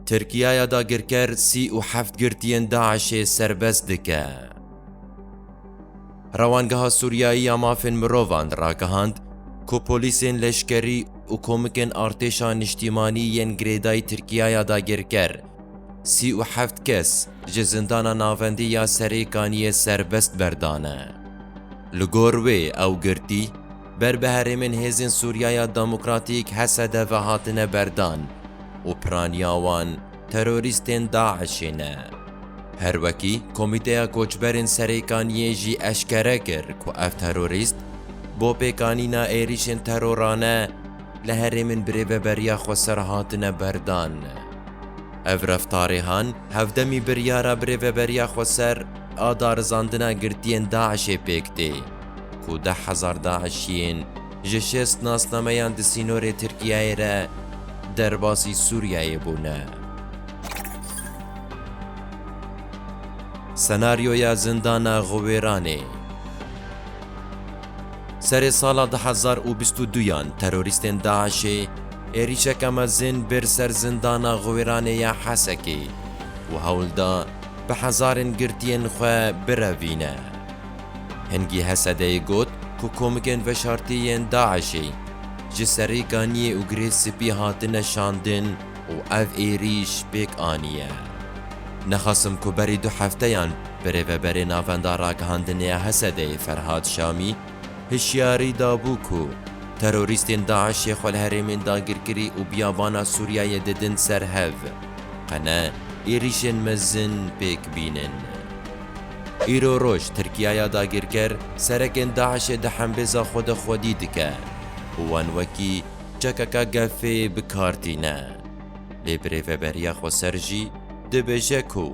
Tirkiyaya dagirker sî û heft girtiyên DAIŞ'ê serbest dike. Rewangeha Sûriyayî ya Mafên Mirovan ragihand ku polîsên leşkerî û komikên artêşa niştîmanî yên girêdayî Tirkiyaya dagirker sî û heft kes ji zindana navendî ya Serêkaniyê serbest berdane. Li gor wê ew girtî, Ber bi herêmên Hêzên Sûriyaya Demokratîk, HSDV, hatine berdan û piraniya wan terorîstên DAIŞ'ê ne. Her wekî Komîteya Koçberên Serêkaniyê jî eşkere kir ku ev terorîst bo pêkanîna êrîşên terorane li herêmên bi rêveberiya Xweser hatine berdan. Ev reftarê han hevdemî biryara bi rêveberiya Xweser a darizandina girtiyên DAIŞ'ê pêk tê. ku deh hezar DAIŞ'iyên ji şêst nasnameyan di sînorê Tirkiyeyê re derbasî Sûriyeyê bûne. Senaryoya Zindana Xiwêranê Serê sala du hezar û bîst û duyan terorîstên DAIŞ'ê êrîşeke mezin bir ser Zindana Xiwêranê ya Hesekê û hewl da bi hezarên girtiyên xwe birevîne. Hingî Hesedeyê got ku komikên veşartî yên DAIŞ'ê ji serî ganiyê û girê spî hatine şandin û ev êrîş pêk aniye. Nexasim ku berî du hefteyan birêveberê Navenda Ragihandinê ya Hesedeyê Ferhad Şamî hişyarî dabû ku terorîstên DAIŞ'ê xwe li herêmên dagirkirî û biyabana Sûriyeyê didin ser hev, qe ne êrîşên mezin pêk bînin. Îro roj Tirkiyaya dagîrker serekên DAIŞ'ê di hembêza xwe de xwedî dike û wan wekî çekeka gefêyê bi kar tîne. Lê birêveberiya xweser jî dibêje ku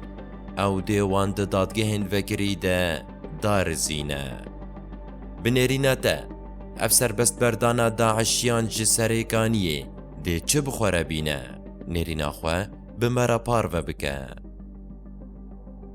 ew dê wan di dadgehên vekirî de darizîne. Bi nêrîna te ev serbestberdana DAIŞ'yan ji serêkaniyê dê çi bi xwe re bîne? Nêrîna xwe bi me re parve bike.